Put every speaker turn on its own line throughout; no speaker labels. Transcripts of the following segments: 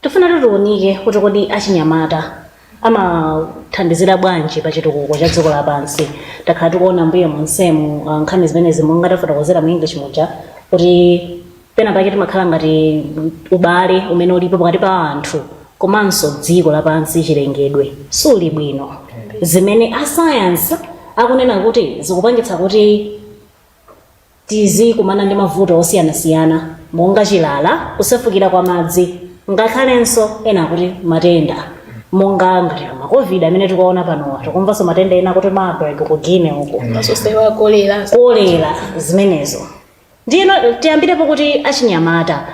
Tifuna tiunike kuti kodi achinyamata amathandizira bwanji pa chitukuko cha dziko lapansi. Takhala tikuona m'mbuyo monsemu ah, nkhani zimenezi monga tafotokozera mu English muja kuti pena pake timakhala ngati ubale umene ulipo pakati pa anthu komanso dziko lapansi chilengedwe suli bwino zimene asayansi akunena kuti zikupangitsa kuti Tizikumana ndi mavuto osiyanasiyana monga chilala, kusefukira kwa madzi ngakhalenso ena akuti matenda monga ngati a ma covid amene tikuwaona panowa. Tikumvanso matenda ena akuti Marburg ku Guinea uko. Zoonsezo
kolera zimenezo ndiyeno tiyambirepo kuti achinyamata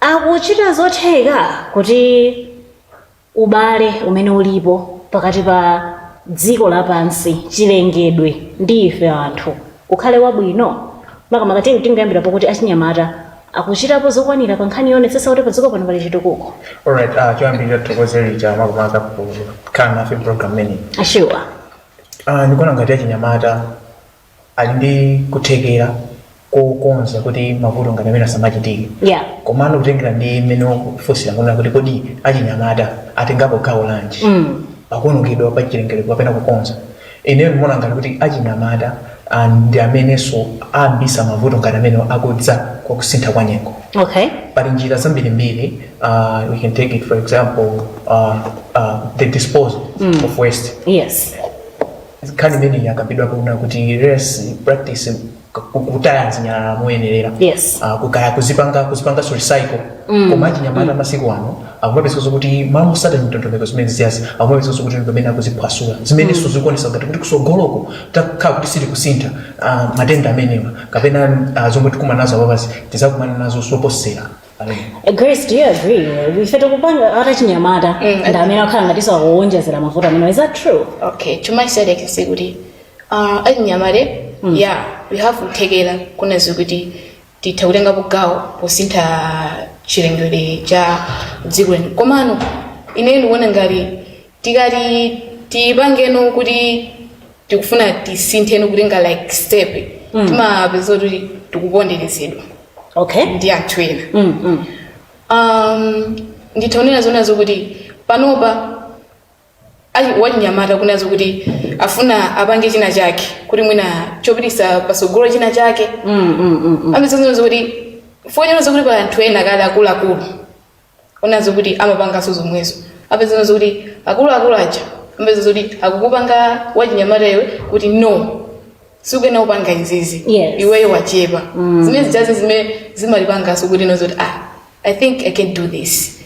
akuchita zotheka kuti ubale umene ulipo pakati pa dziko lapansi, chilengedwe, ndi ife anthu ukhale wabwino? Makamaka tiyeni tingoyambira pokuti achinyamata akuchitapo zokwanira pa nkhani yoonetsetsa kuti padziko pano pali chitukuko. Alright, uh,
choyambirira tithokoze Rita makamaka kukhala nafe pa program imeneyi. Sure. Uh,
ndikuona
ngati achinyamata ali ndi kuthekera kokonza kuti mavuto ngati amene asamachitike yeah
komano kutengera
ndi mmene ukufunsira kuona kuti kodi achinyamata atengapo gawo lanji Mm. pakuonongedwa kwa chilengedwe kapena kukonza ineyo ndimaona ngati kuti achinyamata ah, ndi amenenso ayambisa mavuto ngati amene akudza kwa kusintha kwa nyengo okay pali njira zambirimbiri uh, we can take it for example uh, uh, the disposal of waste yes nkhani imeneyi yakambidwapo kunena kuti let's practice kutaya zinyalala moyenerera Yes. Ah,
kaya kuzipanga
kuzipanga recycle koma achinyamata masiku ano akumapezeka kuti mmalo mosata ndondomeko zimenezi akumapezeka kuti pamene akuziphwasula zimenenso zikuonesa ngati kuti kusogoloko takhala kuti sitili kusintha ah, matenda amenewa kapena ah, zomwe tikumana nazo apapazi tizakumana nazo zoposera Eh,
Grace do you agree ife tikupanga ngati achinyamata Mm. ndi amene akhala ngati akuwonjezera mavuto amene is that true okay chuma chisadeke
sikuti uh, achinyamata mm. yeah we have kuthekera kunena zoti titha kutengapo gawo posintha chilengedwe cha dziko lino komano ineyo ndikuona ngati tikati tipangeno kuti tikufuna tisintheno kutenga like step Mm. timapeza kuti tikuponderezedwa okay
ndi anthu ena
mm, mm. um, nditha kunena zonena kuti panopa achi- wachinyamata kunena zokuti afuna apange china chake kuti mwina chopitisa pasogolo china chake Mm, mm, mm, mm. apeza zokuti chifukwa zokuti pali anthu ena kale akuluakulu ona zokuti amapanganso zomwezo apezana zokuti akuluakulu aja amapeza zoti akukupanga wachinyamata iwe kuti no sukuyenera kupanga izizi Yes. iweyo wachepa zimene zijazi zimene zimalipangaso kuti no zoti ah i think i can do this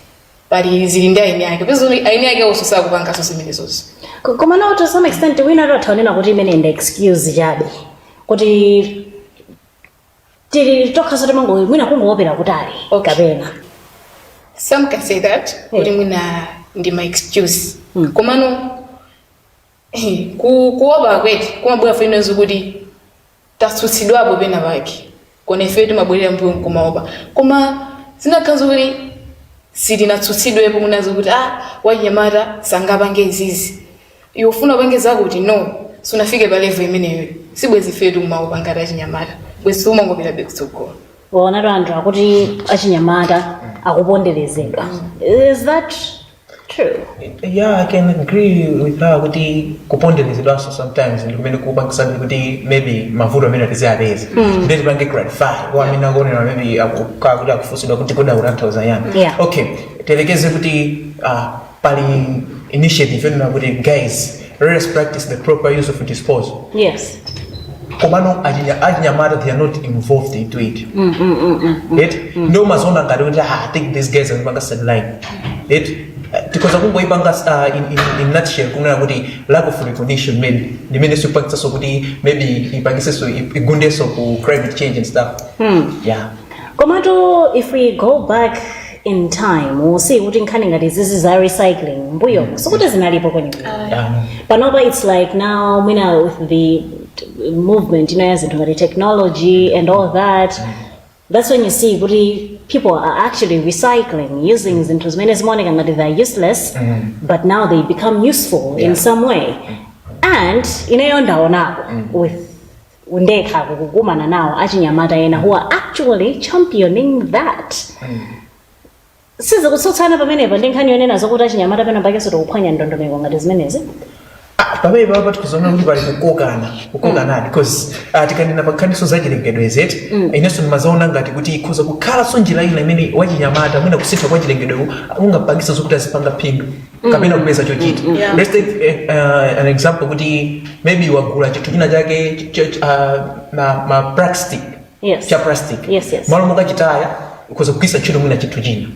pali zili ndi eni ake peza zoti eni ake onso sakupanganso zimenezozo Ko- koma nawo to
some extent wina atha kunena kuti imene ndi excuse chabe kuti tili tokha zoti timango mwina kungoopera kutali Okay. kapena
some can say that Yeah. kuti mwina ndi ma excuse Mm. komano eh, ku- kuopa kwathu kumabwera fenenso kuti tatsutsidwapo pena pake nkona ifeyo timabwerera mbuyo nkumaopa koma zinakakhala kuti sitinatsutsidwepo mwina zokuti ah wachinyamata sangapange izizi iwe ufuna upange zakuti no sunafike pa level imeneyo
sibwezi ifetu timaopa ngati achinyamata bwezi timangopitabe kutsogolo waona anthu
akuti achinyamata akuponderezedwa is that true yeah
i can agree with her kuti kuponderezedwanso sometimes ndi kumene kukupangitsabe kuti maybe mavuto amene timawapeza kuti tipange clarify kwa amene akuonera maybe akukaa kuti akufunsidwa kuti kodi akutanthauza chani Yeah. okay
tiyerekeze
kuti ah, pali initiative yonena kuti guys let us practice the proper use of disposal yes
komano
achinya- achinyamata they are not involved into it right ndio umaziona ngati kuti ah, i think these guys amepanga sideline right tikoza kungoipanga uh, in, in, in nutshell kunena kuti lack of recognition maybe limene sipangitsaso kuti maybe ipangiseso igundeso ku climate change and stuff yeah komatu
if we go back in time we'll see kuti nkhani ngati izizi za recycling mbuyomo sikuti zinalipo kwenikweni but panopa it's like now mwina with the t- movement you know, ya zinthu ngati technology and all that that's when you see kuti people are actually recycling using zinthu zimene zimaoneka ngati they're useless but now they become useful in some way and ineyo ndaonako with ndekha kukumana nawo achinyamata ena who are actually championing that sizikutsutsana pamenepa ndi nkhani yonena zokuti achinyamata pena pakenso tikuphwanya ndondomeko ngati zimenezi Ah,
pamene papa tikuona kuti pali kukokana kukokana because ah, tikanena pankhaninso za chilengedwe zeti inenso ndimazaona ngati kuti ikhoza kukhalanso njira ina imene wachinyamata mwina kusintha kwa chilengedwe kungapangitse zokuti azipanga phindu kapena kupeza chochita Yeah. let's take eh, uh, an example kuti maybe wagula chinthu china chake ch- ch- uh, ma, ma plastic Yes. cha plastic
Yes, yes.
mmalo mokachitaya ukhoza kugwisa ntchito mwina chinthu china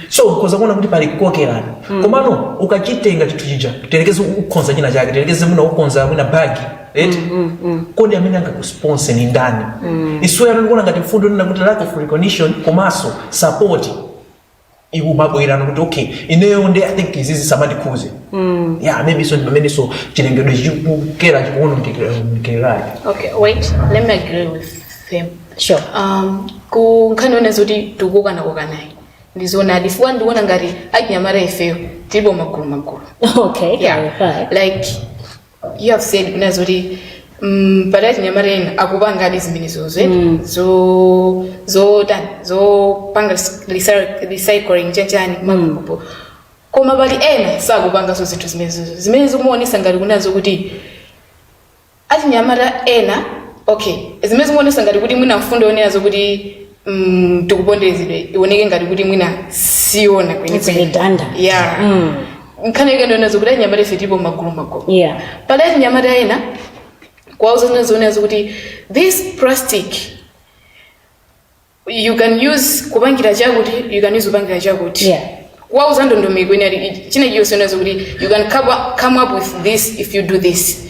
so ukhoza kuona kuti pali kukokerana komano ukachitenga chinthu chija tiyerekeze ukonza china chake tiyerekeze mwina ukonza mwina bagi right kodi amene angakusponse ni ndani issue yomwe ndikuona ngati mfundo ina kuti lack of recognition komanso support ikumabwera kuti okay ineyo nde i think izizi sizimandikhudza mm. yeah maybe so ndi mmenenso chilengedwe chikukera chikuonongekera okay wait let me agree
with him sure um ku nkhani yonena kuti tikukokana kokanayi ndi zoona chifukwa ndiona ngati achinyamata ifeyo tilipo magulu magulu okay
yeah.
yeah. like you have said kunena zoti mm, pali achinyamata ena akupangadi zimenezozo eh? Mm. zo zotani zopanga res- recy- recycling chanichani makapu koma pali ena sakupanganso zinthu zimenezozo zimene zikumaonesa ngati kunena zoti achinyamata ena okay zimene zikumaonesa ngati kuti mwina mfundo yonena zokuti mm, tikuponderezedwa ioneke ngati kuti mwina siyoona It's redundant. yeah Mm. nkhani yake ndi yonena zokuti achinyamata ife tilipo magulu magulu Yeah. pali
achinyamata
ena kuwauza zina zonena zokuti this plastic you can use kupangira chakuti you can use kupangira chakuti Yeah.
kuwauza
ndondomeko ina china chilichonse yonena zokuti you can come up- come up with this if you do this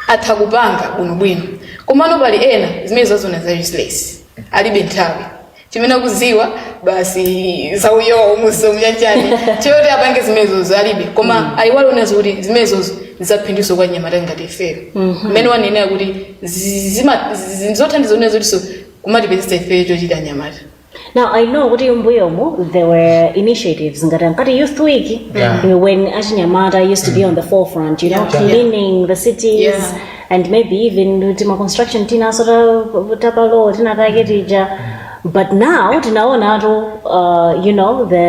atha kupanga bwinobwino komano pali ena zimenezo azaona za useless alibe nthawi chimene akuziwa basi za iwowo mwa zina chanichani choti apange zimenezozo alibe koma ayiwala kunena zokuti zimenezozo ndi zaphinduso kwa achinyamata ngati ifeyo mmene wanenera kuti zi- zima- zi- zothandiza kunena zokutiso kumatipezesa ifeyo chochita achinyamata Now I
know kuti mbuyomo there were initiatives ngati ankati youth week Yeah. when achinyamata used to be on the forefront you know Yeah. cleaning the cities Yeah. and maybe even tima construction tinaso ta- ta pa local tinatake tija but now tinaonatu uh, you know the,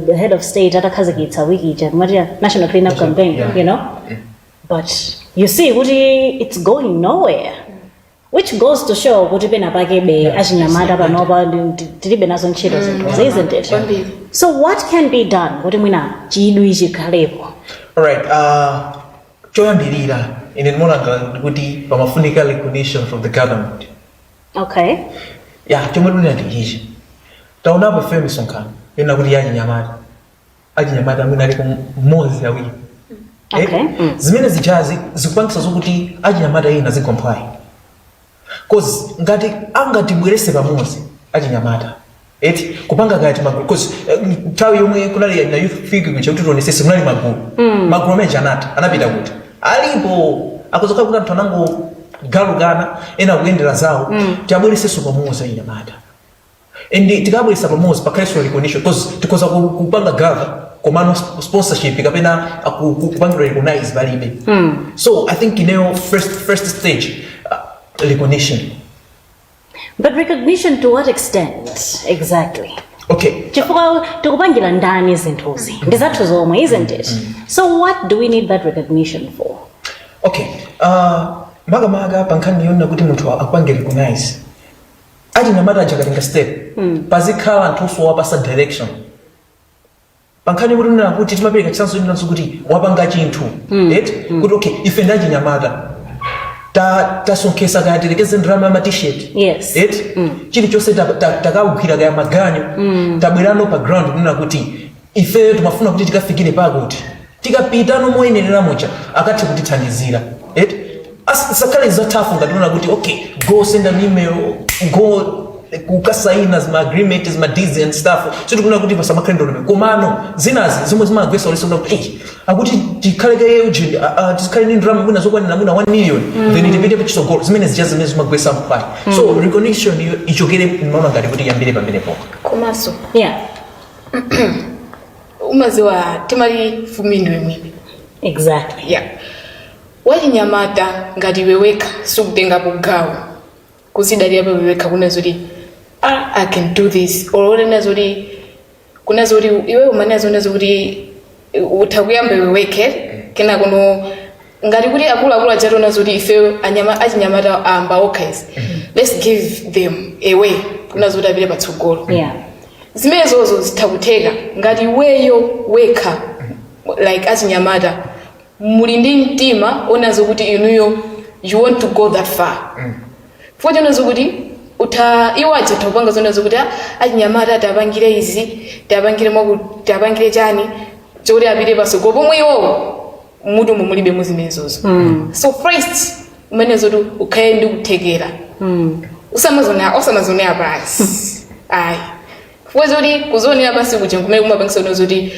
the head of state atakhazikitsa wiki ija amati national clean up campaign yeah. you know but you see kuti it's going nowhere which goes to show kuti penapakebe achinyamata panopa ndi- tilibe nazo ntchito zinthu isn't it Kwambiri. so what can be done kuti mwina chidwi chikhalepo All right. Uh,
Choyambilira, ine ndimaona kuti pamafunika recognition from the government. Okay.
Yeah,
chomwe ndinena ndi ichi. Taonapo ife misonkhano yonena kuti ya achinyamata. Achinyamata mwina aliko mmodzi awiri. Okay.
Mm. Zimene zijazi
zikupangitsa zokuti achinyamata ena azigwa mphwayi. coz ngati angatibwelese pamozi achinyamata eti kupanga kaya timagulu coz nthawi yomwe kunali ya- na youth week kuja kuti tionesese kunali magulu magulu amene achinyamata anapita kuti alipo kuzakhala kuti anthu anangogalukana ena kuyendera zawo tiwabwereseso pamozi achinyamata and tikawabweresa pamodzi pakhalenso recognition because tikhoza ku- kupanga gather komano sp- sponsorship kapena aku- ku- kupangidwa recognize palibe so i think ineyo first, first stage uh, recognition
but recognition to what extent exactly okay chifukwa tikupangira ndani zinthuzi ndi zathu zomwe isn't it so what do we need that recognition for okay
uh, makamaka pankhani yonena kuti munthu akupange recognize achinyamata aja akatenga step pazikhala anthu osowapasa direction pankhani kuti kunena kuti timapereka chitsanzo chinanso kuti wapanga chinthu eti kuti okay ife ndi achinyamata ta- tasonkhetsa kaya tiyerekeze ndalama ya ma T-shirt Yes.
eti
chilichonse ta- ta- takawugwira kaya maganyu tabwerano pa ground kunena kuti ifeyo timafuna kuti tikafikire pakuti tikapita no moyenerera muja akathe kutithandizira eti As- zisakhale za tough ngati kunena kuti okay go send an email go kukasaina zima agreement zima deals and stuff so tikufuna kuti pasamakhale ndondomeko komano zinazake zomwe zimagwetsa ulesi kuti eh akuti tikhale kaye ujeni tikhale ndi ndalama mwina zokwanira mwina 1 million then tipite patsogolo zimene zija zimene zimagwetsa mphwayi so recognition iyo ichokere ndimaona ngati kuti iyambire pamenepo komanso
yeah
umadziwa timati fumbi ndiwe mwini
exactly
yeah. wachinyamata ngati iwe wekha sukutengapo gawo kuzidalira pa iwe wekha kunena zoti ah, i can do this or unena zoti kunena zoti iwe umanena zonena zoti utha kuyamba iwe wekha kenakono ngati kuti akuluakulu akationa zoti ifeyo anyama- achinyamata ayamba okha izi let's give them a way kunena zoti apite patsogolo yeah
zimenezozo
zitha kutheka ngati iweyo wekha like achinyamata muli ndi mtima onena zokuti inuyo you want to go that far futi onena zokuti utha iwo aja utha kupanga zonena zokuti "Ah, achinyamata tiwapangire izi tiwapangire mwaku tiwapangire chani chokuti apite patsogolo pomwe iwowo mutu umu mulibe mu zimenezozo so first umenye zoti ukhale ndi kuthekera usamadzionere osamadzionera pansi ayi chifukwa choti kudzionera pansi kuja kumene kumapangitsa kunena zoti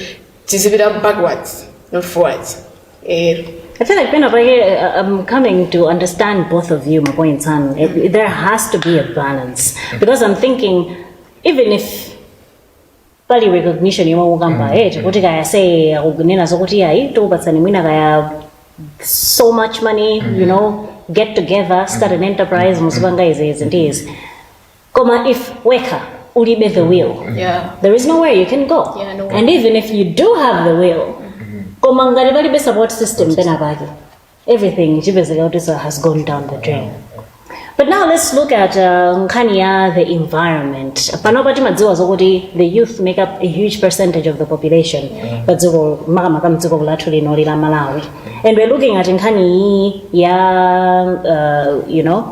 tizipita backwards not forwards
ero I feel like pena pake uh, I'm coming to understand both of you, my points and there has to be a balance because I'm thinking, even if pali recognition yomwe ukukamba eti kuti kaya se akunena zokuti ayi tikupatsani mwina kaya so much money you know get together start an enterprise muzipanga izi izi ndi izi koma if wekha ulibe the will Yeah. there is nowhere you can go Yeah, no. and even if you
do
have the will koma ngati palibe support system penapake everything chipezeka kuti has gone down the drain but now let's look at uh, nkhani ya the environment panopa timadziwa zokuti the youth make up a huge percentage of the population pa dziko makamaka mdziko lathu lino lino la Malawi and we're looking at nkhani iyi ya uh, you know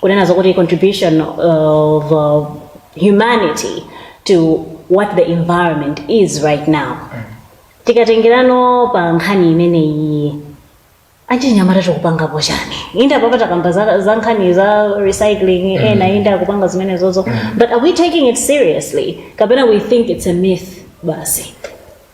kunena zokuti contribution of uh, humanity to what the environment is right now tikatengerano pa nkhani imeneyi achinyamata tikupangapo chani inde apapa takamba za, za nkhani za recycling ena inde akupanga zimenezozo but are we taking it seriously kapena we think it's a myth basi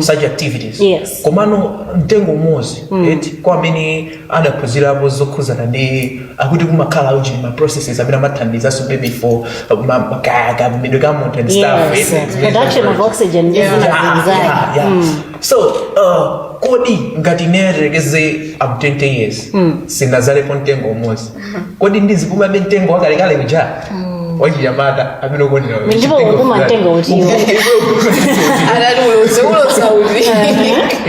such activities Yes.
komano
mtengo umodzi eti kwa amene adaphunzirapo zokhuzana ndi akuti kumakhala ujeni ma processes amene amathandizanso maybe for ma- ma- ka- ka- midwe ka munthu and stuff Yes. eti, zimene Production
of zimene- oxygen ndi Yeah. zina Yeah, zinzake. yeah, yeah.
so uh, kodi ngati ineyo tiyerekeze I'm 20 years sindinadzalepo mtengo umodzi kodi ndizipumabe mtengo wakalekale kuja wachinyamata amene ukondera wewe. Ndipo Mtengo ukupuma funani.
mtengo utiwo. anali ulose ulosa uti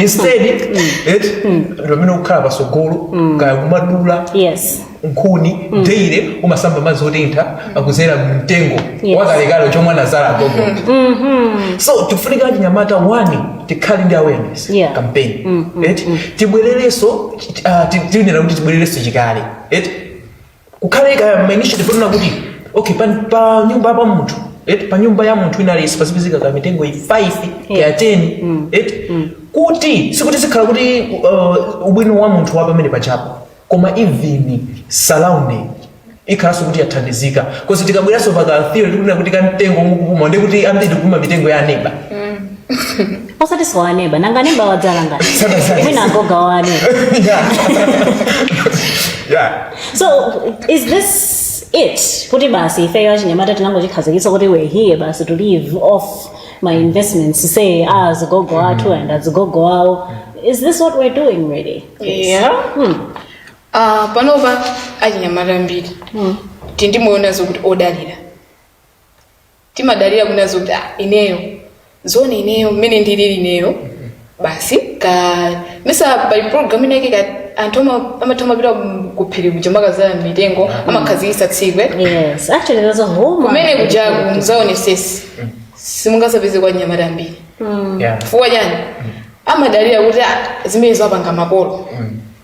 instead eti pamene ukukhala pasogolo kaya kumadula yes nkhuni daily kumasamba madzi otentha akudzera mtengo Yes. wakalekale womwe anadzala gogo so tifunika achinyamata wani tikhale ndi awareness Yeah. campaign Mm, mm, eti tibwererenso ah, ti- tiyenera kuti tibwererenso chikale eti kukhale ka ma initiative ponena kuti okay pa, pa nyumba pa munthu eti pa nyumba ya munthu at least pazipezeka ka mitengo kaya 5 kaya 10 eti kuti sikuti zikhala kuti uh, ubwino wa munthu wa pamene pachapo koma even surrounding ikhalanso kuti yathandizika coz tikabweranso pa ka theory tikunena kuti kamtengo mukupuma ndi kuti ambiri tikupuma mitengo ya aneba
osati si wa neba nanga neba wadzala ngati Sanadzale. mwina agogo a aneba yeah so is this it kuti basi ifeyo achinyamata tinangochikhazikitsa kuti we're here basi to live off ma investments a azigogo athu and azigogo awo is this what we're doing really
eya hmm. Ah, panopa achinyamata ambiri Hmm. tili ndi moyo onena zokuti odalira timadalira kunena zokuti ah, ineyo zona ineyo mmene ndilili ineyo basi kayesa pali program inake ka anthu ama- amatha amapita kuphiri kuja amakadzala mitengo amakhazikitsa tsiku yes actually there's
a whole kumene kujaku
mudzaonetsetse simungadzapezeko achinyamata ambiri Yeah. chifukwa chani amadalira kuti "Ah, zimenezo apanga makolo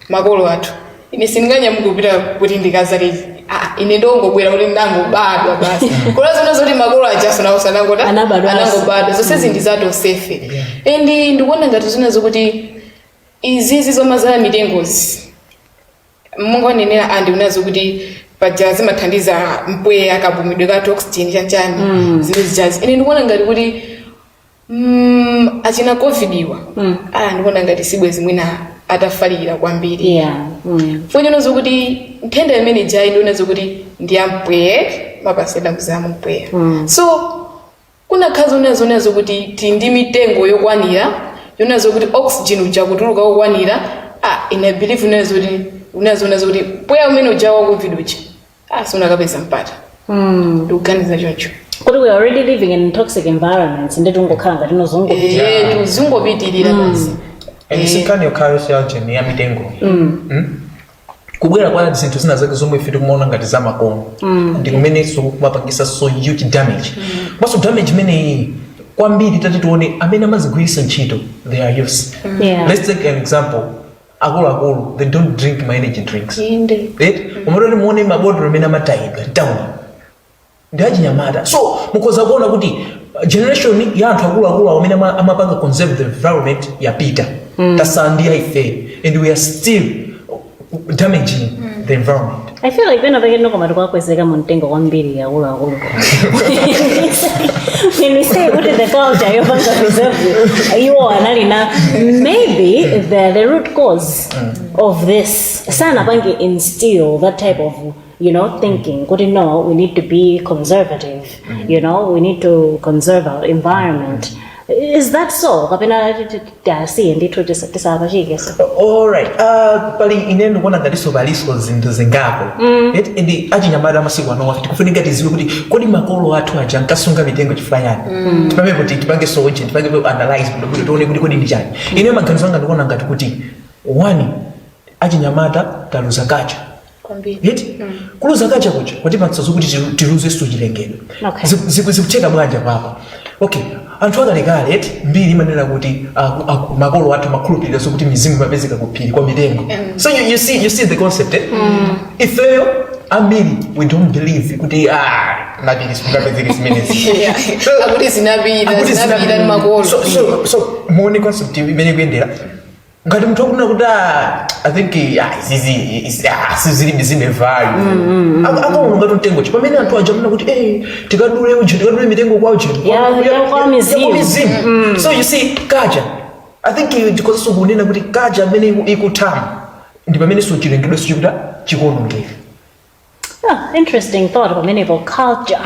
makolo athu ine sindinganyamuke kupita kuti ndikadzale Ah, ine ndongobwera kuti ndangobadwa basi koma zoona zoti makolo ajanso nawo sanangota Anabadwanso. anangobadwa zonse ndi za tonsefe and ndikuona ngati zina zokuti izizi zomadzala mitengozi mwangonenera auntie kunena zokuti paja zimathandiza mpweya kapumidwe ka oxygen chanchani zimene zijazi ine ndikuona ngati kuti Mm, achina covid awa Mm. ah, ndikuona ngati sibwezi mwina atafalikira kwambiri yeah mm. zonena zokuti nthenda imene ijayi ndiona zokuti ndi yampweya imapatsirana kudzera mumpweya Mm. so kunakhala zonena zonena zokuti tili ndi mitengo yokwanira yonena zokuti oxygen uja kutuluka wokwanira ah, I believe unena zoti unena zonena zokuti mpweya umene uja wa covid uja ah sunakapeza mpata mm, ndikuganiza choncho kuti we are
already living in toxic environments nde tingokhala ngati tizingopitirira Eh, tuzingopitirira
basi and si
nkhani yokhayo siya ujeni ya mitengo Mm? kubwera kwa zinthu zina zake zomwe ife tikumaona ngati za makono ndi kumenenso kumapangisa so huge damage komanso damage imeneyi kwambiri tati tione amene amazigwiritsa ntchito they are youths Yeah. let's take an example akuluakulu they don't drink ma energy drinks Inde. right mutati muone mabotolo amene amatayidwa mtown ndi achinyamata so mukhoza kuona kuti generation ya anthu akuluakulu awo amene ama- amapanga conserve the environment yapita tatsala ndi ife and we are still damaging the environment I feel like pena
pake ndithu koma tikuwakwezeka mu mtengo kwambiri akuluakulu when I say kuti the culture yopanga preserve iwo anali na maybe the, the root cause of this sanapange instill that type of you know thinking kuti no we need to be conservative you know we need to conserve our environment is that so kapena tiwasiye ndithu tisa- tisawapachike
so alright uh, kwa ine ndikuona ngatiso paliso zinthu zingapo Eti, ndi achinyamata amasiku anowa tikufunika tiziwe kuti kodi makolo athu aja ankasunga mitengo chifukwa chani tipange kuti tipange zauje tipange ku analyze kuti kuti tione kuti kodi ndi chani ine maganizo anga ndikuona ngati kuti one achinyamata taluza culture kwambiri eti Mm. kuluza culture kuja kwatipatsa zokuti tilu- tiluzenso chilengedwe Okay. Ziku- ziku- zikutheka bwanji apapa okay anthu akalekale eti mbiri imanena kuti aku- aku- makolo athu amakhulupirira zokuti mizimu imapezeka ku phiri kwa mitengo so you, you, see, you see the concept eh? ifeyo ambiri we don't believe kuti kumapiri sikungapezeke zimenezi So, akuti
zinapita akuti zinapita ndi makolo so, so, so
muone concept imene ikuyendera ngati munthu akunena kuti "Ah, i think ah, izizi izi- ah, mizimu zilibe value Aka- akaona ngati mtengo chabe pamene anthu aja amanena kuti "Eh, tikadule uje tikadule mitengo kwa uje Ya- ya kwa
mizimu." mizimu so
you see culture i think tikhozanso kunena kuti culture mmene iku- ikuthamo ndi pamenenso chilengedwenso chikutha chikuonongeka
Ah, interesting thought pamenepo culture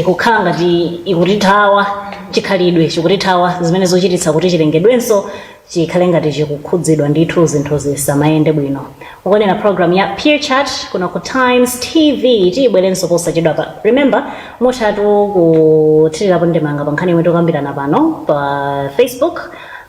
ikukhala ngati ikutithawa chikhalidwe chikutithawa zimene zochititsa kuti chilengedwenso chikhale ngati chikukhudzidwa ndithu zinthu zisamayende bwino ukuonera program ya peer chat kuno ku times tv tibwerenso posachedwapa remember muthatu kuthirirapo ndemanga pa nkhani yomwe tikukambirana pano pa facebook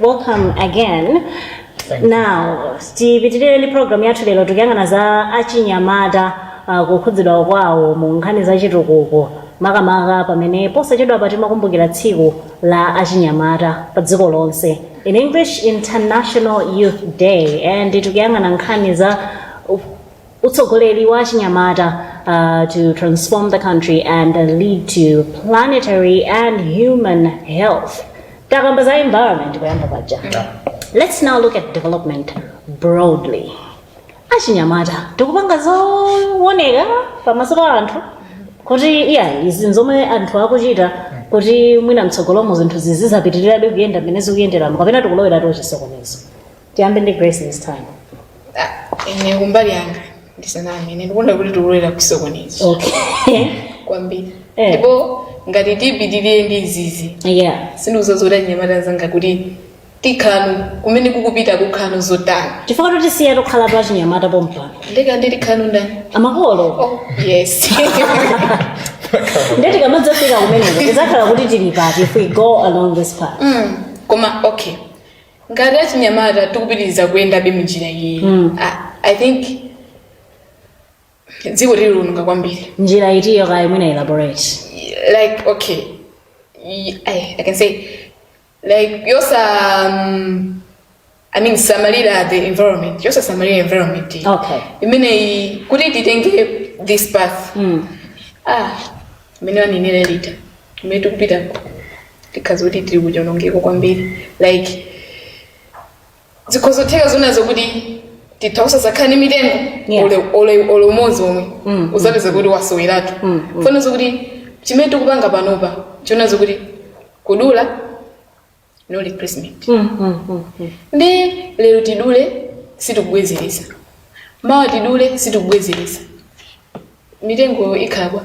welcome again now tipitirire ndi program yathu lero tikuyang'ana za achinyamata uh, kukhudzidwa kwawo mu nkhani za chitukuko makamaka pamene posachedwapa timakumbukira tsiku la achinyamata pa dziko lonse in english international youth day and tikuyang'ana nkhani za Utsogoleri wa achinyamata uh, to transform the country and lead to planetary and human health. Takamba za environment kuyamba paja. Let's now look at development broadly. Achinyamata tikupanga zooneka pamaso pa anthu kuti izi nzomwe anthu akuchita kuti mwina mtsogolomo zinthu zizizapitirirabe kuyenda mmene zikuyenderamo kapena tikulowera kuchisokonezo. tiyambe ndi grace this time Ah,
ine kumbali yanga ndisaname ine ndikuona kuti tikulowera kuchisokonezo
okay kwambiri
Eh. ndipo ngati tipitirire ndi izizi yeah sindikuzozoda
nyamata
zanga kuti tikhanu kumene kukupita kukhanu zotani chifukwa tikusiya
tokhala pa achinyamata pompano ndeka ndili
khanu ndani amakolo
oh yes nde tikamadzafika kumeneko tizakhala kuti tili pati if we go along this path mm. koma okay
ngati achinyamata tikupitiriza kuyendabe munjira iyeyi Mm. I, i think dziko tiliononga kwambiri njira itiyo kaya
mwina elaborate like okay
y- I, I can say like yosa um, i mean samalira the environment yosa samalira environment iyi. okay imeneyi
kuti
titenge this path mm. ah mmene wanenera lita kumene tikupitako tikhala kuti tili kuchonongeko kwambiri like zikhozotheka zoona zokuti titha osazakhala ni mitengo Yeah. ole- ole- ole umodzi omwe Mm, uzapeza kuti wasoweratu Mm, mm. chifukwa zoona zokuti chimene tikupanga panopa choona zokuti kudula no replacement Mm, mm, mm, mm. ndi lero tidule sitikubwezeretsa mawa tidule sitikubwezeretsa mitengo ikhala bwa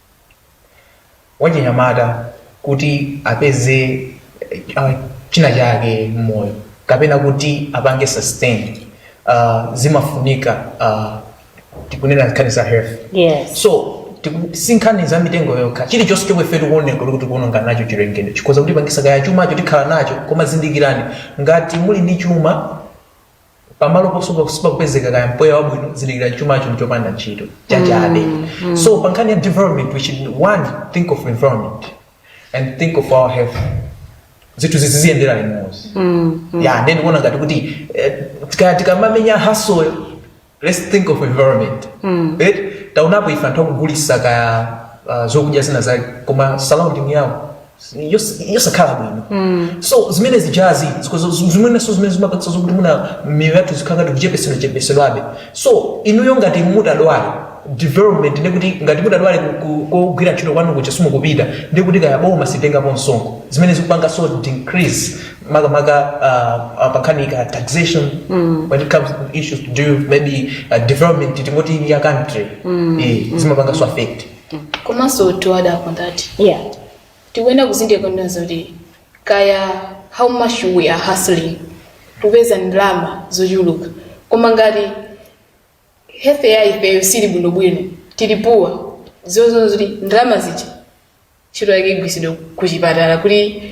wachinyamata kuti apeze uh, china chake mmoyo kapena kuti apange sustain uh, zimafunika uh, tikunena nkhani za health yes
so
tiku- si nkhani za mitengo yokha chilichonse chomwe ife tikuoneka kuti tikuononga nacho chilengedwe chikhoza kutipangisa kaya chumacho tikhala nacho koma zindikirani ngati muli ndi chuma pamalo posunga sipakupezeka kaya mpweya wabwino zindikira chumacho mchopanda ntchito chachabe so pa nkhani ya development we should one think of environment and think of our health zinthu ziziyendera limodzi ya ndiye ndikuona ngati kuti eh, tika- tikamamenya hustle-yo let's think of environment right taonapo ife anthu akugulisa kaya ah, zokudya zina zake koma surrounding yawo yos- yosakhala bwino so zimene zijazi zikozo- zu- zimenenso zimene zimapangitsa zokuti mwina miyoyo yathu zikhala ngati ikuchepesedwa chepesedwabe so inuyo ngati mutadwala development ndekuti ngati mutadwale kugwira ntchito kwanu kuja simukupita ndekuti kaya boma silitengapo msonkho zimene zikupangaso decrease makamaka uh, uh, pankhani ya taxation when it comes to issues to do maybe uh, development tingoti ya country Eh, zimapangaso affect komanso
to add up on that
yeah
tikuyenera kuzindikira kunena zoti kaya how much we are hustling kupeza ndalama zochuluka koma ngati health ya ifeyo sili bwinobwino ili poor zizaona zoti ndalama zija ntchito yake igwiritsidwe kuchipatala kuti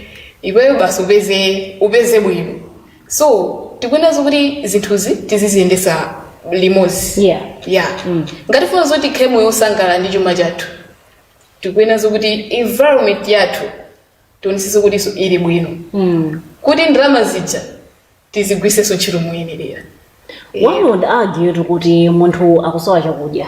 iweyo basi upeze upeze bwino so tikuyenera zokuti zinthuzi tiziziyendesa limodzi Yeah. yeah ngati tifuna zoti tikhale moyo osangala ndi chuma chathu tikuyenera zokuti environment yathu tionesese kutiso ili bwino kuti ndalama zija tizigwiriseso ntchito moyenerera one
would argue kuti munthu akusowa chakudya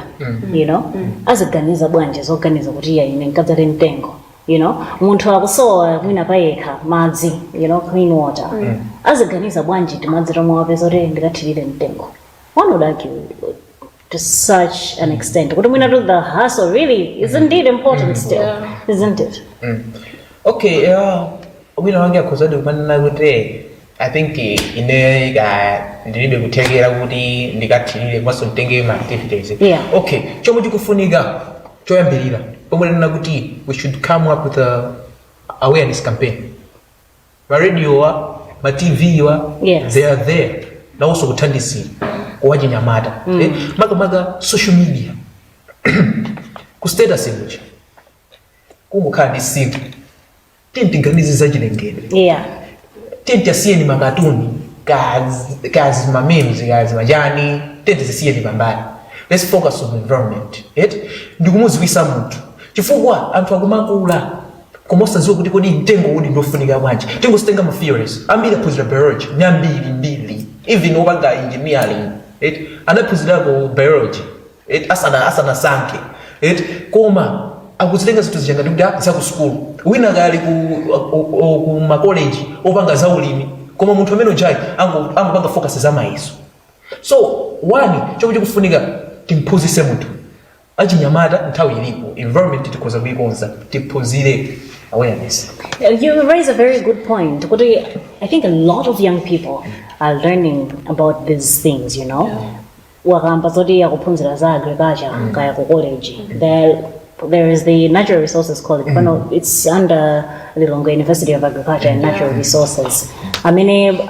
you know aziganiza bwanji zoganiza kuti iya ine nkadzale mtengo you know munthu akusowa mwina payekha madzi you know clean water aziganiza bwanji timadzi tomwe wapeza kuti ndikathirire mtengo one would argue to such an extent kuti mwina to the hustle really is indeed important still isn't it okay
uh, wina wake akhozadi kumanena kuti i think eh, ine ka ndilibe kuthekera kuti ndikathirire komanso nditenge mma activities Yeah. okay chomwe chikufunika choyambirira pomwe ndi kunena kuti we should come up with awareness campaign ma radio wa ma tv wa Yeah. they
are
there nawonso kuthandizira kwa achinyamata eh, makamaka social media ku status kuja kungokhala ndi tsiku timati tiganize za chilengedwe
yeah timati
asiyeni makatuni kaya ndi kaya ndi mamemes kaya ndi machani timati zisiyeni pambali let's focus on environment right ndikumuziwisa munthu chifukwa anthu akumakula koma osadziwa kuti kodi mtengo u ndiofunika bwanji tingositenga ma theories ambiri aphunzira biology ndi ambirimbiri even opanga engineering eti anaphunzirako biology eti asana asanasankhe eti koma akuzitenga zinthu zija ngati kuti ah, za ku sukulu wina akali ku, o- o- ku makoleji opanga za ulimi koma munthu amene ujayo ango- angopanga focus za mayeso so one chomwe chikufunika timphunzise munthu achinyamata nthawi ilipo. environment tikhoza kuikonza tiphunzire awareness You
raise a very good point. Kuti, I think a lot of young people are learning about these things, you know. Wakamba zoti akuphunzira za agriculture kaya ku college. There, there is the natural resources college. Pano it's under Lilongwe University of Agriculture and Natural Resources. Amene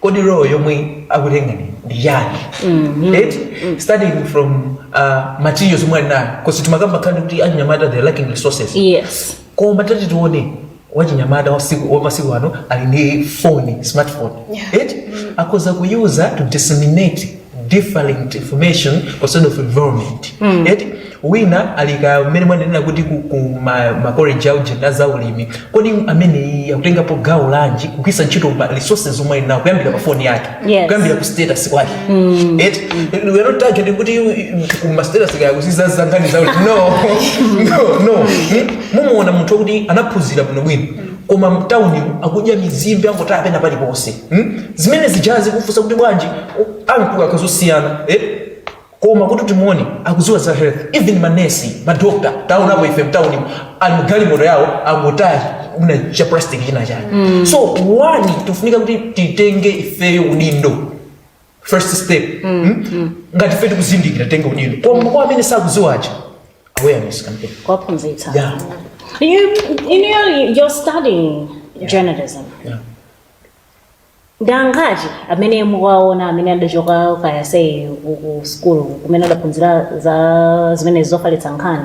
kodi
role yomwe akutenga ndi ndi chani eti starting from uh, materials yomwe ali nayo coz timakamba kambiri kuti achinyamata they're lacking resources yes
koma tati
timuone wachinyamata wasiku- wamasiku ano ali ndi phone smartphone eti akhoza kuyuza to disseminate different information concerning of environment mm. eti wina ali ka mmene mwanenera kuti ku, ku ma, ma college aujeni za ulimi kodi amene akutengapo gawo lanji kugwiritsa ntchito ma resources omwe ali nawo kuyambira pa phone yake Yes. kuyambira ku status kwake mm. eti we are not targeting kuti ku ma status ake akuziza za nkhani za ulimi no no no Hmm? mumuona munthu kuti anaphunzira bwino bwino koma mtaunimu akudya mizimbe, angotaya pena paliponse hmm? zimene zija ukufunsa kuti bwanji u- amkulu akazosiyana eh? koma kuti timuone akuziwa za health even manesi madokta taonapo ife mtaunimu ali mugalimoto yawo angotaya uja cha plastic china chake so one tifunika kuti titenge ifeyo udindo first step hmm? ngati fe tikuzindikira tenga udindo koma kwa amene sakuziwa aja awareness campaign kuwaphunzitsa yeah you you know
you're studying journalism
yeah ndi
angati amene mukaona amene adachoka kaya say ku- ku sukulu kumene adaphunzira za zimene zofalitsa nkhani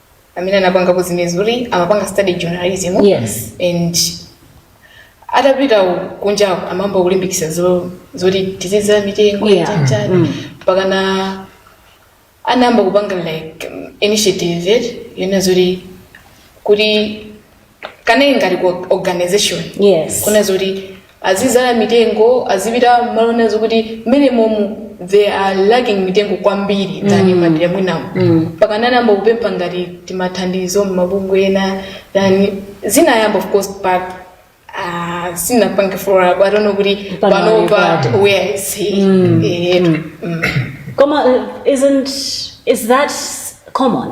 amene anapangako zimenezi kuti amapanga study journalism Yes. and atapita kunjako anayamba kulimbikisa zo- zoti tizizala mitengo Yeah. chanchani mpakana anayamba kupanga like um, initiative yeti yona zoti kuti kanali ngati ku organization Yes.
kuona
zoti azizala mitengo azipita m'malo ena zokuti mmenemomu they are lacking mitengo kwambiri than madera mwinamo mpakana anayamba kupempha ngati timathandizo mmabungwe ena then zinayamba of course but uh, sindinapange follow up i don't know kuti Pano panopa pati. where is he Eh, mm. Koma, uh,
isn't is that common?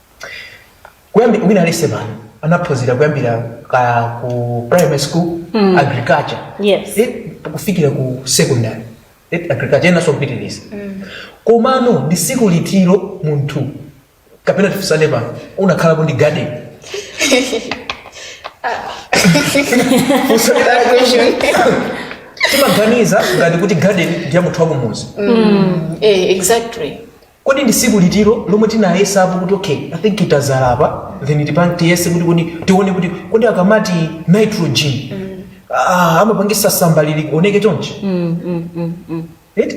kuyambira wina alese pano anaphunzira kuyambira kaya ku primary school mm. agriculture Yes. eh, kufikira ku
secondary
eh, agriculture enanso kupitiriza mm. komano ndi siku litiro munthu kapena tifunsane pano unakhalapo ndi garden Funso la question. timaganiza ngati kuti garden ndiya munthu wakumuzi Eh,
exactly
Kodi ndi siku litiro lomwe tinayesapo kuti okay i think tadzala apa then tipan tiyese kuti kodi tione kuti kodi akamati nitrogen ah, amapangitsa samba lilikuoneka chonchi Right?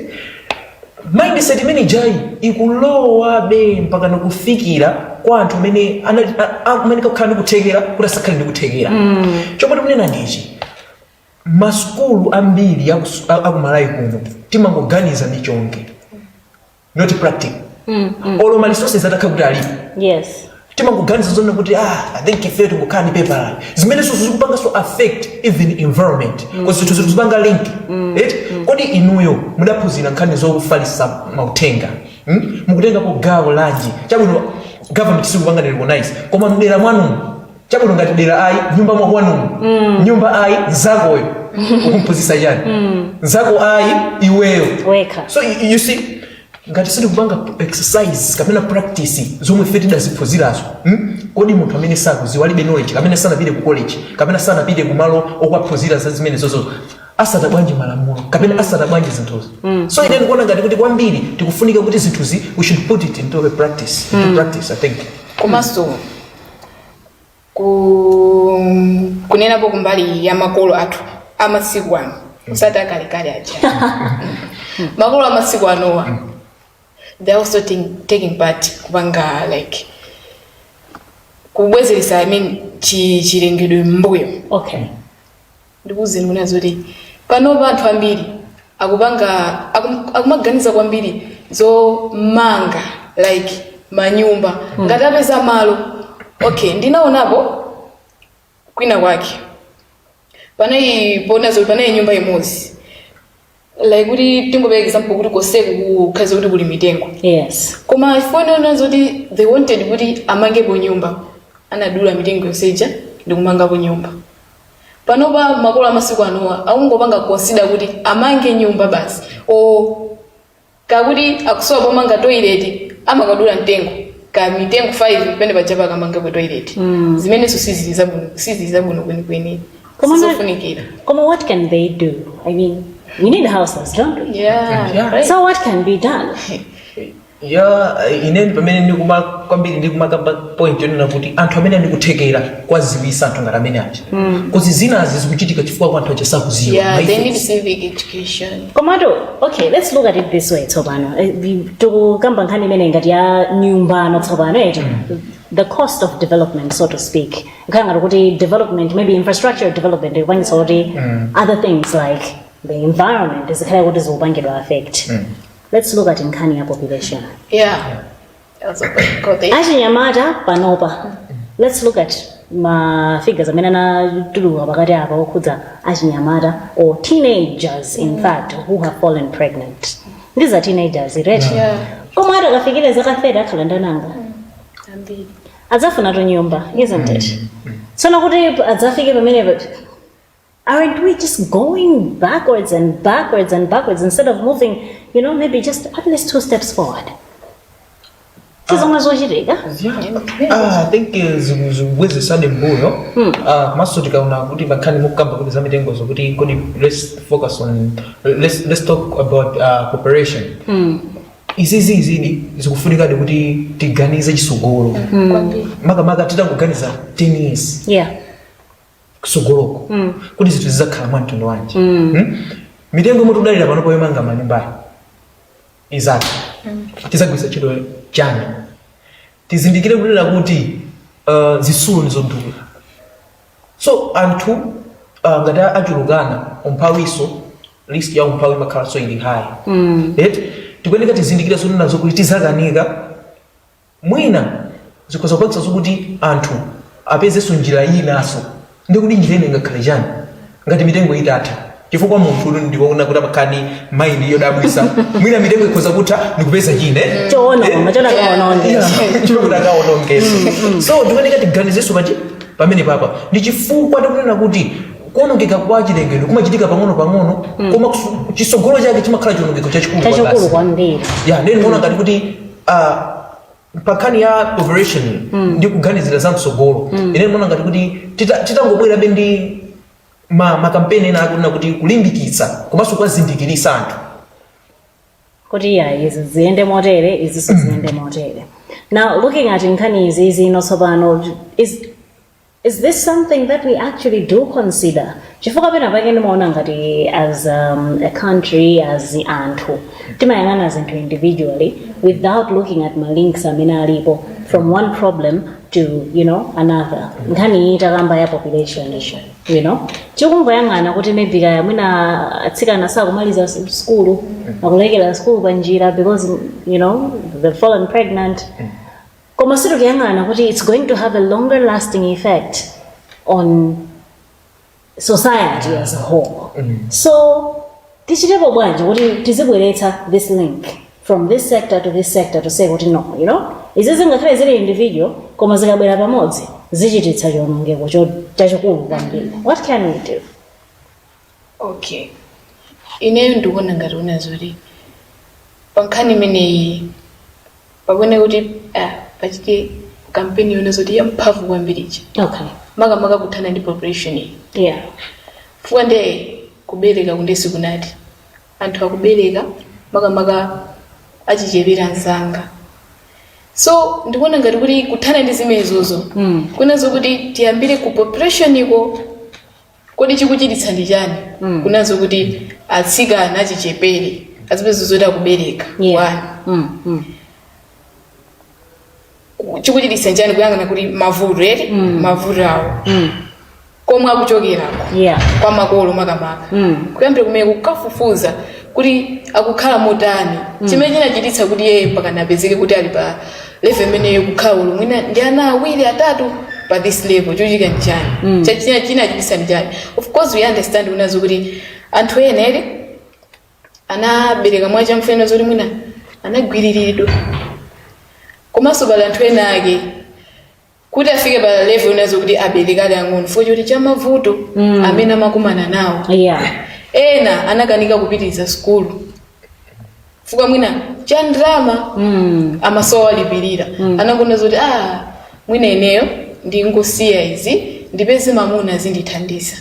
mindset imene ijayi ikulowabe mpaka kukafikira kwa anthu amene anali- a- a- amene kakhala ndikuthekera kuti asakhale ndikuthekera chomwe tikunena ndichi masukulu ambiri aku, aku malawi kuno timangoganiza za theory not practical mm, mm. olo ma resources atakhala kuti alipo yes
timangoganiza
zonena kuti ah i think ife tingokhala ndi pepala zimene so zikupanga so affect even environment mm. zinthu zinthu zikupanga link mm. right mm. kodi inuyo mudaphunzira nkhani zofalitsa mauthenga mm? mukutengapo gawo lanji chabwino government sikupanga ndi recognize koma mdera mwanu chabwino ngati dera ayi nyumba mwakwanumu mm. nyumba ayi nzakoyo ukumphunzitsa chani mm. nzako ayi iweyo wekha so you,
you see
ngati sitikupanga exercise kapena practice zomwe ife tidaziphunzirazo hmm? kodi munthu amene sakudziwa alibe knowledge kapena sanapite ku college kapena sanapite ku malo okaphunzira za zimene zozo atsata bwanji malamulo kapena atsata bwanji zinthuzi mm. so ine ndikuona ngati kuti kwambiri tikufunika kuti zinthuzi we should put it into a practice into mm. practice i think komanso
ku kunenapo kumbali ya makolo athu amasiku ano osati akalekale aja makolo amasiku anowa they're also taking, taking part kupanga like kubwezeretsa i mean chi- chilengedwe mmbuyo okay
Ndikuuzeni
kunena zoti panopa anthu ambiri akupanga akum, akumaganiza kwambiri zomanga like manyumba mm. ngati apeza malo okay ndinaonapo kwina kwake panali poona zoti panali nyumba imodzi like kuti tingopereka example kuti konseku kukhala kuti kuli mitengo yes
koma chifukwa
choona zoti they wanted kuti amangepo nyumba anadula mitengo yonse ija ndi kumangapo nyumba panopa makolo amasiku anowa akungopanga consider kuti amange nyumba basi o kaya kuti akusowa pomanga toilet amakadula mtengo kaya mitengo 5 pene paja pakamangapo toilet zimenenso sizili zabwino sizili zabwino kwenikweni Koma na- sizofunikira Koma, what can
they do? I mean, we need houses, don't we? yeah, Yeah. right. So,
what can be
done?
ya ineni pamene ndikuima kwambiri ndikumakamba point yonena kuti anthu amene ndikuthekera kwaziwisa anthu ngati amene aja kuti zinazi zikuchitika chifukwa choti anthu aja sakuziwa Yeah, they Mayife- need civic
education. komatu
okay let's look at it this way tsopano Eh, vi- tikukamba nkhani imene ngati ya nyumba ino tsopano eti the cost of development so to speak kukhala ngati kuti development maybe infrastructure development ikupangitsa kuti other things like the environment zikhale kuti zikupangidwa affect let's look at nkhani ya population yeah
achinyamata
panopa let's look at ma figures amene anatuluka pakati apa okhudza achinyamata or teenagers in fact who have fallen pregnant these are teenagers right Yeah.
koma
akamafika zaka 30 akhala ndi ana angati
Ambiri. adzafuna
nyumba isn't it tsono kuti adzafike pamenepo Aren't we just going backwards and backwards and backwards instead of moving, you know, maybe just at least two steps forward? ndi zomwe zikuchitika
Ah, I think eh, ziku- zikubwezesadi mbuyo Ah, komanso tikaona kuti pankhani mukukamba kuti za mitengozo kuti kodi let's focus on let's, let's talk about uh, cooperation izizi izidi zikufunikadi kuti tiganize chisogolo makamaka titangoganiza 10 years yeah kusogoloko mm. kuti zinthu zizakhala mwa mtundu wanji mm. hmm? mitengo yomwe tudalira pano yomangira manyumbayi ikazatha mm. tizagwiritsa ntchito chani tizindikire kunena kuti uh, zisulo ndizodula so anthu uh, ngati achulukana umphawiso list ya umphawi imakhala so ili high mm. tikuyeneka tizindikire zonena zokuti tizakanika Mwina zikhoza kupangitsanso kuti anthu apezenso njira inanso. Ndiye kodi njira ina ingakhale chani? Ngati mitengo itatha, chifukwa munthutu ndikuona kuti amakhala ndi mind yodabwitsa, mwina mitengo ikhoza kutha ndikupeza china chake Choononga, choti akaononge. Yeah, chifukwa kuti akaonongeso. So tikuyeneka tiganizenso pa- pamenepapa ndi chifukwa tikunena kuti kuonongeka kwa chilengedwe kumachitika pang'ono-pang'ono koma kusu- chisogolo chake chimakhala chionongeko chachikulu Chachikulu kwambiri.
kwambiri. ya ndeni ndimaona ngati
kuti Ah, pa nkhani ya population ndi kuganizira za mtsogolo ine ndimaona ngati kuti tita- titangobwerabe ndi ma makampeni ena akunena kuti kulimbikitsa komanso kuwazindikiritsa
anthu kuti ya izi ziyende motere izinso ziyende motere now looking at nkhani iyi ino tsopano is Is this something that we actually do consider? Chifukwa pena pake ndimaona ngati as um, a country as anthu timayang'ana zinthu individually without looking at ma links amene alipo from one problem to you know another nkhani iyi takamba ya population issue you know tikungoyang'ana kuti maybe kaya mwina atsikana sakumaliza s- sukulu akulekera sukulu pa njira because you know they've fallen pregnant koma sitikuyang'ana kuti it's going to have a longer lasting effect on society as a whole so tichitepo bwanji kuti tizibweretsa this link from this sector to this sector to say kuti no you know izi zingakhale zili individual koma zikabwera pamodzi zichititsa chionongeko cho- chachikulu kwambiri what can we do
Okay. Ineyo ndikuona ngati kunena zoti pankhani imeneyi pakuyenera kuti ah, pachite kampeni yonena zoti yamphamvu kwambiridi okay makamaka
kuthana ndi
population iyi yeah
fuwa
nde kubereka kundesi kunati anthu akubereka makamaka achichepere msanga so ndikuona ngati kuti kuthana ndi zimenezozo Mm. kunazo kuti tiyambire ku population iko Kodi chikuchititsa ndi chani mm. kunazo kuti atsikana achichepere azipeza zoti akubereka yeah. mm. mm. chikuchititsa nchani kuyang'ana kuti mavuto eti mm. mavuto awo mm. komwe akuchokerako yeah. kwa makolo makamaka mm. kuyambira kumene kukafufuza kuti akukhala motani mm. chimene chinachititsa kuti yeye mpaka apezeke kuti ali pa level imeneyo kukhala ali mwina ndi ana awiri atatu pa this level chachitika nchani mm. chachi- chinachititsa nchani of course we understand kunazo kuti anthu ena eti anabereka mwacha mfuna zoti mwina anagwiriridwa komanso pali anthu ena ake kuti afike pa level inazo kuti abereke ali ang'ono fukwa choti cha mavuto Mm. amene amakumana nawo yeah ena anakanika kupitiriza sukulu fukwa mwina cha ndalama mm. amasowa wowalipirira anangoona zoti ah mwina ineyo ndingosiya izi ndipeze mamuna azindithandiza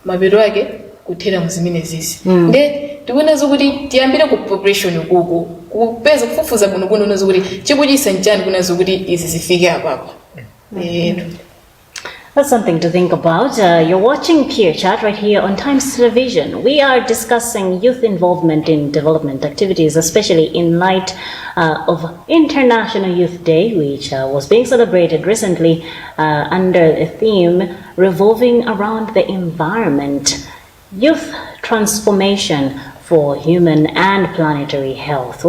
mapeto ake kuthera mu zimenezizi nde tikuonazo kuti tiyambire ku population kuko kupeza kufufuza bwino bwino kunazo kuti chikuchititsa nchani kunazo kuti izi zifike apapa eti
That's something to think about. Uh, you're watching Peer Chat right here on Times Television. We are discussing youth involvement in development activities, especially in light uh, of International Youth Day, which uh, was being celebrated recently uh, under the theme revolving around the environment, youth transformation for human and planetary health.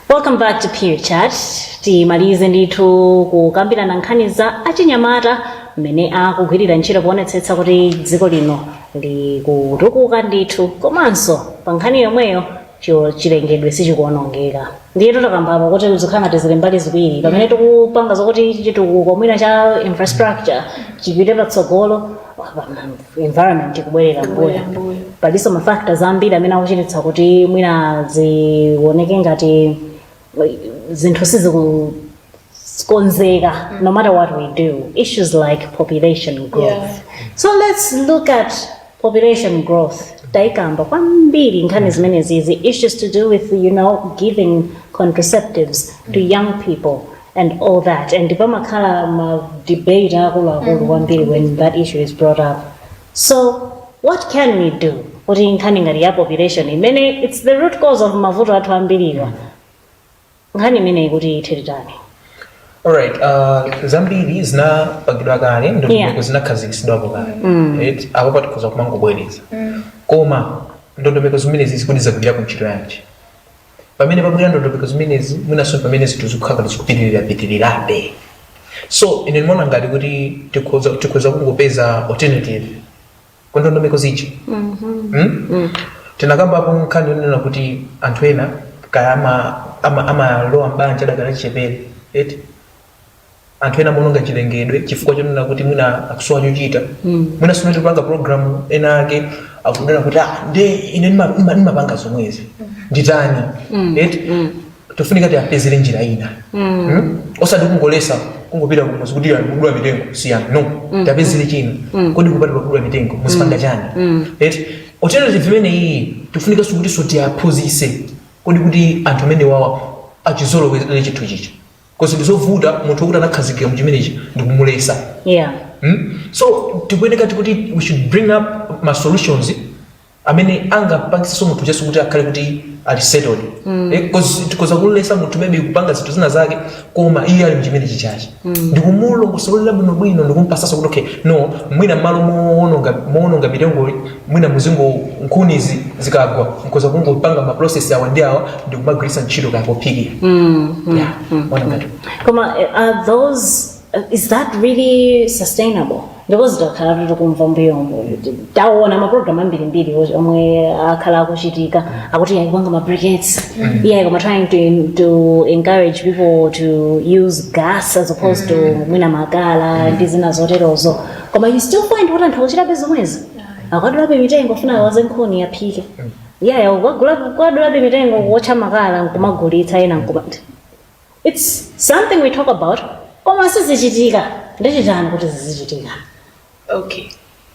Welcome back to Peer Chat. Timalize ndithu kukambirana nkhani za achinyamata mmene akugwirira ntchito poonetsetsa kuti dziko lino likutukuka ndithu komanso pa nkhani yomweyo cho chilengedwe sichikuonongeka ndiyetu takamba apa kuti zikukhala ngati zili mbali ziwiri pamene tikupanga zokuti chitukuko mwina cha infrastructure chipite patsogolo apa, mm, environment ikubwerera mbuyo Kubwerera mbuyo. palinso mafactors ambiri amene akuchititsa kuti mwina zioneke ngati zinthu sizikukonzeka no matter what we do issues like population growth Yeah. so let's look at population growth taikamba kwambiri nkhani zimenezi izi issues to do with you know giving contraceptives to young people and all that and pamakhala ma debate akuluakulu kwambiri when that issue is brought up So what can we do kuti nkhani ngati ya population imene it's the root cause of mavuto athu ambiriwa nkhani imeneyi kuti ithe titani Alright,
uh, zambiri zinapangidwa kale Yeah. ndondomeko zinakhazikitsidwapo kale right? apo patikhoza kumangobwereza koma ndondomeko zimene zi zikuti zagwira ntchito yanji pamene pabwera ndondomeko zimenezi mwinanso ndi pamene zinthu zikukhala ngati zikupitirirapitirirabe so ine ndimaona ngati kuti tikhoza kungopeza alternative ku ndondomeko zija Mm? tinakambapo nkhani yonena kuti anthu ena kaya ama- ama- amalowa mbanja adakali achichepere eti anthu ena amaononga chilengedwe chifukwa chonena kuti mwina akusowa chochita mwina mmene tikupanga programu ena ake ankanena kuti ah, nde ine ndima- ndima- ndimapanga zomwezi nditani eti tofunika tiapezere njira ina Mm? osati kungolesa kungopita kumuzi kuti yani kudula mitengo siyani no tiapezere china kodi kupatula kudula mitengo muzipanga chani eti alternative imene iyi tifunika sikuti so tiaphunzise kodi kuti anthu amene wawa achizolowere chinthu chija 'cause ndizovuta munthu wokuti anakhazikika mu chimenechi ndikumulesa yeah Hmm? so tikuyeneka tikuti we should bring up ma solutions amene angapangisenso munthu uja so kuti akhale kuti ali settled Eh, 'cause tikoza kulesa munthu maybe kupanga zinthu zina zake koma iye ali mchimenechi cha chi ndikumulongosolera bwinobwino ndikumpasaso kuti okay no mwina mmalo mowononga mitengoyi mwina muzingo nkhuni izi zikagwa mkoza kungopanga ma process awa ndi awa ndi kumagwiritsa ntchito kaya pophikira Yeah,
ona ngati. Koma, eh, are those, eh, is that really sustainable? Because takhala kuti tikumva mbuyomo taona maprogramu ambirimbiri wo- omwe akhala akuchitika akuti ayi kupanga mabriquettes ayi koma trying to, to encourage people to use gas as opposed to mwina makala ndi zina zoterozo koma you still find kuti anthu akuchitabe zomwezi akudulabe mitengo kufuna awaze nkhuni aphike yaya akukadulabe mitengo kuwotcha makala nkumagulitsa ena nkumati its something we talk about koma sizichitika ndichitani kuti zizichitika
okay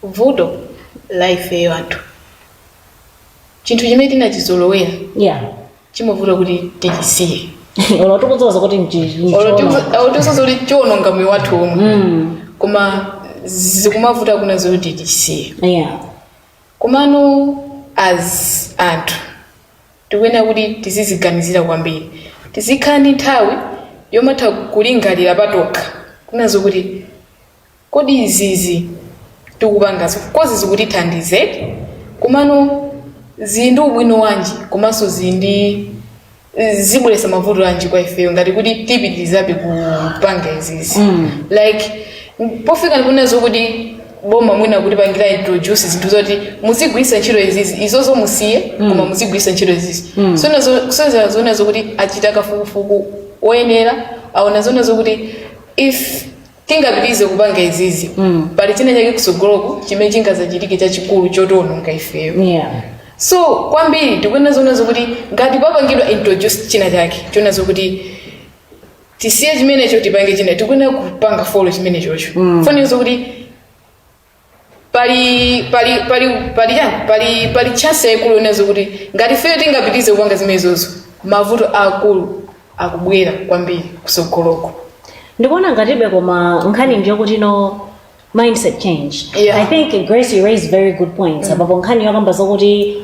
vuto la ifeyo anthu chinthu chimene tinachizolowera yeah chimavuta kuti tichisiye olo
tikudziwa kuti mchii Olo tiku-
olo tizidziwa kuti chiononga moyo wathu omwe koma zikumavuta kuna zoti tichisiye yeah komano as anthu tikuyenera kuti tiziziganizira kwambiri tizikhala ndi nthawi yomatha kulingalira patokha kunazo kuti Kodi izizi tikupangazi coz zikutithandiza eti komano zili ndi ubwino wanji komanso zili ndi zibweretsa mavuto anji kwa ifeyo ngati kuti tipitirizabe kupanga izizi like pofika ponena zokuti boma mwina kutipangira introduce zinthu zoti muzigwiritsa ntchito izizi izozo musiye koma muzigwiritsa ntchito izizi zoona zokuti achita kafukufuku oyenera aona zoona zokuti if tingapitirize kupanga izizi Mm. pali china chake kusogoloko chimene chingazachitike chachikulu chotiononga ifeyo yeah so kwambiri tikuyenera zoona zokuti ngati papangidwa introduce china chake choona zokuti tisiye chimenecho tipange china tikuyenera kupanga follow chimenechocho mm. poona zokuti pali pali pali pali ya pali pali chance yaikulu yonena zokuti ngati ifeyo tingapitirize kupanga zimenezozo mavuto aakulu akubwera kwambiri kusogoloko
ndikuona ngatibe koma nkhani ndiyo yokuti no mindset change Yeah. i think grace you raised very good points apapo nkhani yokamba zokuti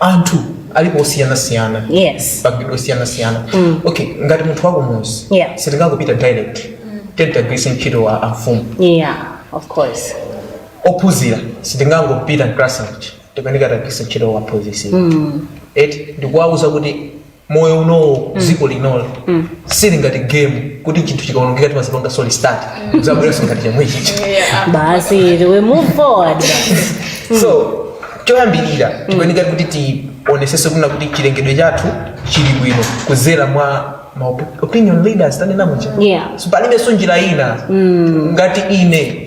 anthu alipo osiyanasiyana Yes. opangidwa osiyanasiyana okay ngati munthu wakumuzi Yeah. sitingangopita direct tikuyeneka tigwiritse ntchito wa amfumu yeah
of course
ophunzira sitingangopita mclass tikuyeneka tigwiritse ntchito aphunzisi eti ndikuwauza kuti moyo unowo dziko linoli sili ngati game kuti chinthu chikaonongeka timazipangaso restart zabweranso ngati chomwechija basi
we move forward so
choyambirira tikuyeneka kuti tionesese kuna kuti chilengedwe chathu chili bwino kuzera mwa ma op- opinion leaders tanena muja Yeah. so palibenso njira ina ngati ine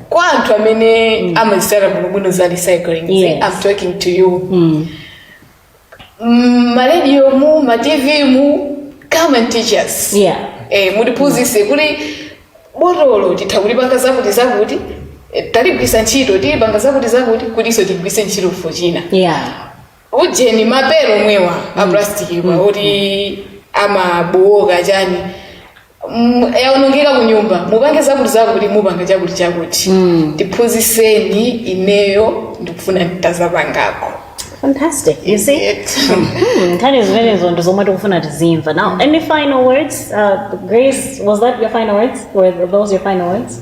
kwa anthu amene amazitsata bwinobwino za recycling zi, Yes. i'm talking
to
you Mm. Mm, maradio mu ma tv mu come and teach us Yeah.
eh,
mutiphunzise kuti botolo titha kulipanga zakuti zakuti eh, taligwisa ntchito tilipanga zakuti zakuti kutinso tigwise ntchito for china Yeah. ujeni mapepala omwewa a plastic akuti amabowoka chani Mm, yaonongeka kunyumba mupange zakuti zakuti mupanga chakuti chakuti tiphunziseni ineyo ndikufuna nditazapangako
Fantastic. You see? Hmm, nkhani zimenezo ndi zomwe tikufuna tizimva. Now, any final words? Uh, Grace, was that your final words? Were those your final words?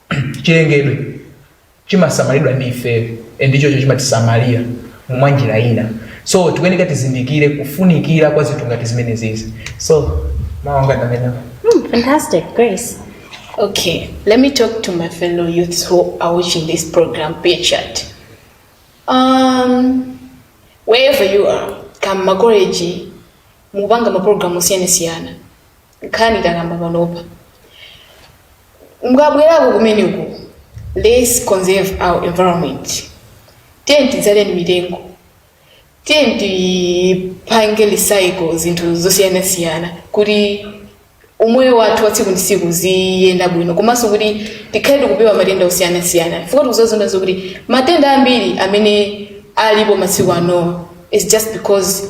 chilengedwe chimasamalidwa ndi ifeyo and ichocho chimatisamalira mwa njira ina so tikuyeneka tizindikire kufunikira kwa zinthu ngati zimenezizi so mawu anga ndi amenewo Hmm, fantastic,
Grace.
Okay, let me talk to my fellow youths who are watching this program, Peer Chat. Um, wherever you are, kama college, mupanga maprogramu osiyanasiyana. nkhani takamba panopa mukabwerako kumeneko let's conserve our environment tiye tidzaleni mitengo tiye tipange recycle zinthu zosiyanasiyana kuti umoyo wathu wa tsiku ndi tsiku ziyenda bwino komanso kuti tikhale tikupewa matenda osiyanasiyana chifukwa tikudzazaona zokuti matenda ambiri amene alipo masiku anowa it's just because